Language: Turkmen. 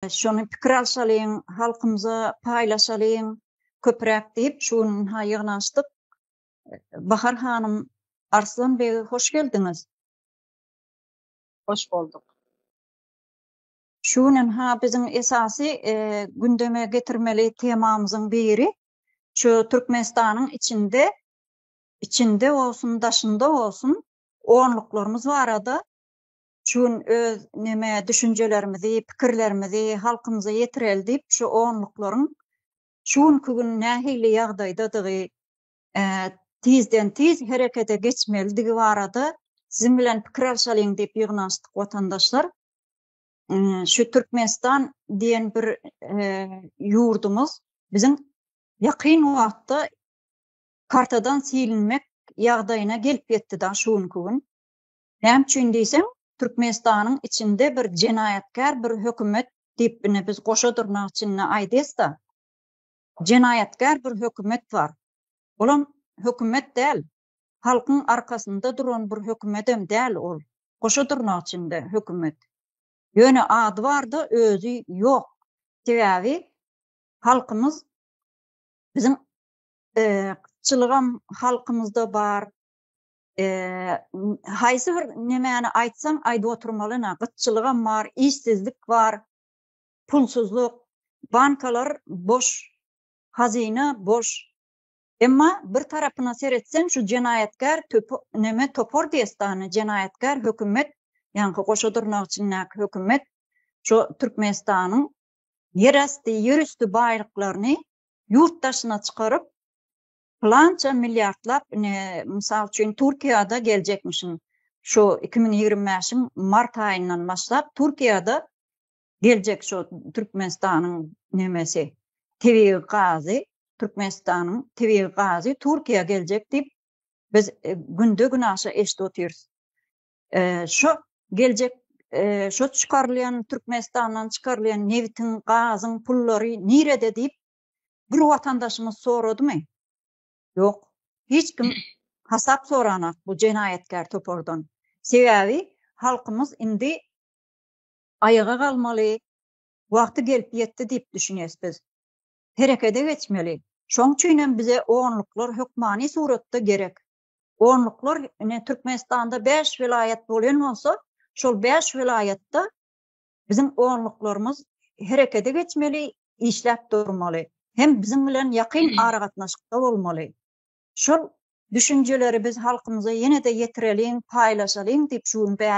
Şony pikir alşalyň, halkymyza paýlaşalyň köpräk diýip şu gün ynha ýygnaşdyk. Bahar hanym, Arslan beg hoş geldiňiz. Hoş bolduk. Şu gün ynha biziň esasy gündeme getirmeli temamyzyň biri şu Türkmenistanyň içinde içinde bolsun daşynda bolsun onluklarymyz barada Şugun öz neme düşünjelerimizi, pikirlerimizi halkymyza ýetireli diýip şu onluklaryň şu günki gün nähili ýagdaýdadygy, tizden-tiz herekete geçmelidigi barada siziň bilen pikir alşalyň diýip ýygnanyşdyk watandaşlar. Şu Türkmenistan diýen bir ýurdumyz biziň ýakyn wagtda kartadan silinmek ýagdaýyna gelip ýetdi dagy şu günki gün. Näme üçin diýseň, Türkmenistanyň içinde bir jenaýatkär bir hökümet diýip ine biz goşa dyrnak içinde aýdýasda, jenaýatkär bir hökümet bar. Olam hökümet däl, halkyň arkasynda duran bir hökümedem däl ol, goşa dyrnak içinde hökümet. Ýöne ady barda özi ýok. Sebäbi halkymyz biziň yrkçylygam halkymyzda bar, haýsy bir nemäni aýtsaň aýdyp oturmalyna gytçylygam bar işsizlik bar pulsuzlyk bankalar boş hazyna boş emma bir tarapyna seretseň şu jenaýatkär neme topar diýestany jenaýatkär hökümet ýaňky goşa dyrnak içindäki hökümet şu türkmenistanyň ýerasty ýerüsti baýlyklaryny ýurt daşyna çykaryp Pylança milliardlap ine, mysal üçin, Türkiýede geljekmişin, şu iki müň ýigrimi bäşiň mart aýyndan başlap Türkiýede geljek şu Türkmenistanyň nemesi, tebigy gazy, Türkmenistanyň tebigy gazy Türkiýä geljek diýip, biz günde-günaşa eşidip otyrys. Şu geljek, şu çykarylýan, Türkmenistandan çykarylýan nebitiň, gazyň pullary nirede diýip, bir watandaşyňyz soradymy? Ýok, hiç kim hasap soranok bu jenaýatkär topardan. Sebäbi halkymyz indi aýaga galmaly wagty gelip ýetdi diýip düşünýäs biz. Herekede geçmeli. Şoň üçin hem bize onluklar hökmany suratda gerek. Onluklar ine Türkmenistanda bäş welaýat bolýan bolsa, şol bäş welaýatda Biziň onluklarymyz herekete geçmeli, işläp durmaly, hem biziň bilen ýakyn aragatnaşykda bolmaly. Şol düşünjeleri biz halkymyza ýene-de ýetireliň, paýlaşalyň diýip şu gün bäri.